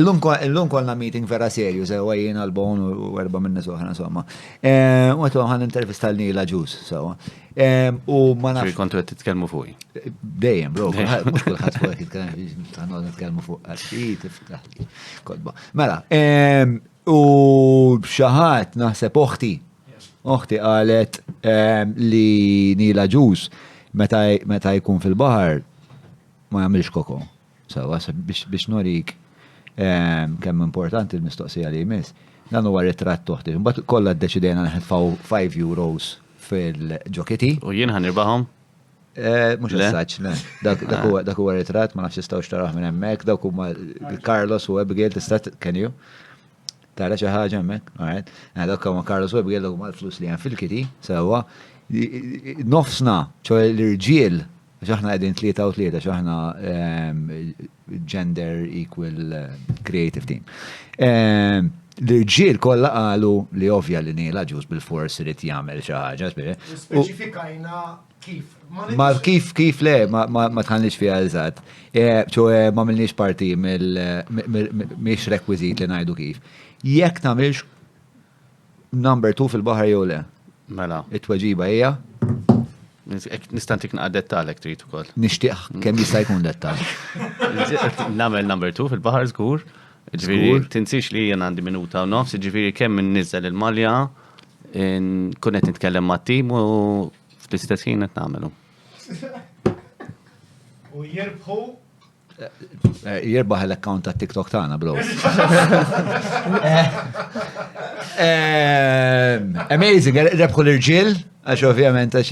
Illum kollna meeting vera serju, sewa jien għal-bon u erba minni soħra, insomma. U għetu għan intervista l-nila ġus, sewa. U ma nafx. Kontu għet titkelmu fuq. Dejjem, bro, mux kullħat fuq għet titkelmu, għandu nitkelmu fuq għaxħit, iftaħ, kodba. Mela, u xaħat naħseb oħti, oħti għalet li nila ġus meta jkun fil-bahar ma jamilx koko. Sewwa, biex nurik kemm importanti l-mistoqsija li jmiss, dan huwa ritratt t'oħti. Imbagħad kollha ddeċidejna nħetfgħu five euros fil-ġokiti. U jien ħa nirbahom? Mhux assaġġ, le. Dak huwa ritratt, ma nafx tistgħux taraħ minn hemmhekk, dawk huma Carlos u Abigail, tista' can you? Tara xi ħaġa hemmhekk? All right. Mela dak ma' Carlos Webb jgħidlek huma l-flus li hemm fil-kiti, sewwa. Nofsna, ċoħe l-irġiel, għax aħna qegħdin tlieta u tlieta, għax aħna ehm, gender equal creative team. Ehm, l-irġiel kollha qalu li ovvja li Neil Aġus bil-fors irid jagħmel xi ħaġa. Speċifikajna Ma kif kif le, ma tħanniex fija eżatt. Eh, ċo eh, ma milniex parti miex rekwizit li najdu kif. Jekk tamilx number 2 fil-bahar jew le. Mela. It-tweġiba hija. Nistantik naqqa dettalek trid ukoll. Nixtieq kemm jista' jkun dettal. Namel number 2 fil-bahar żgur. Ġifieri tinsix li jien għandi minuta u nofs, ġifieri kemm nniżel il-malja kunet nitkellem ma' tim u Fl-istess ħin qed nagħmelu. U jirbħu eh, jirbaħ l-account ta' TikTok tagħna bro. Eh, amazing, eh, rebħu l-irġiel, għax ovvjament għax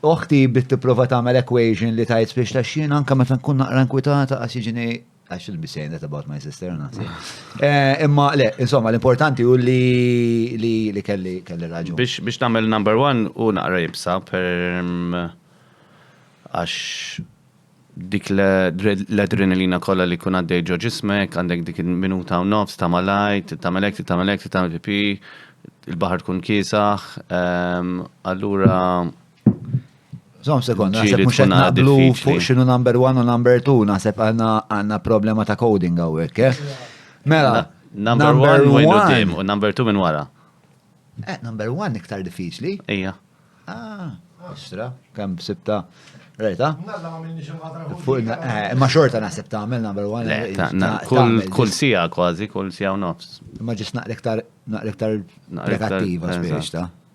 oħti bit tipprova tagħmel equation li tajt biex ta' xien anke meta nkun naqra nkwitata għax jiġini Għax il-be saying that about my sister, nasi. Eh, imma, le, insomma, l-importanti u li li kelli kelli raġu. Biex biex namel number one u naqra jibsa per mm, għax dik l-adrenalina kolla li kun għaddej ġo ġismek, għandek dik minuta u nofs, ta' malajt, ta' melek, ta' melek, ta' pipi, il-bahar kun kisaħ, ehm, allura Zom sekond, naħseb mux għed naqblu fuq xinu number one u number two, naħseb għanna problema ta' coding għawek, eh? Mela, number one minn għoddim u number two minn wara. Eh, number one iktar diffiċli. Ija. Ah, ostra, kem sibta. Rajta? Eh, ma xorta naħseb ta' għamil number one. Eh, kull sija kważi, kull sija u nofs. Ma ġis naqrektar naqrektar pregattiva spiex ta'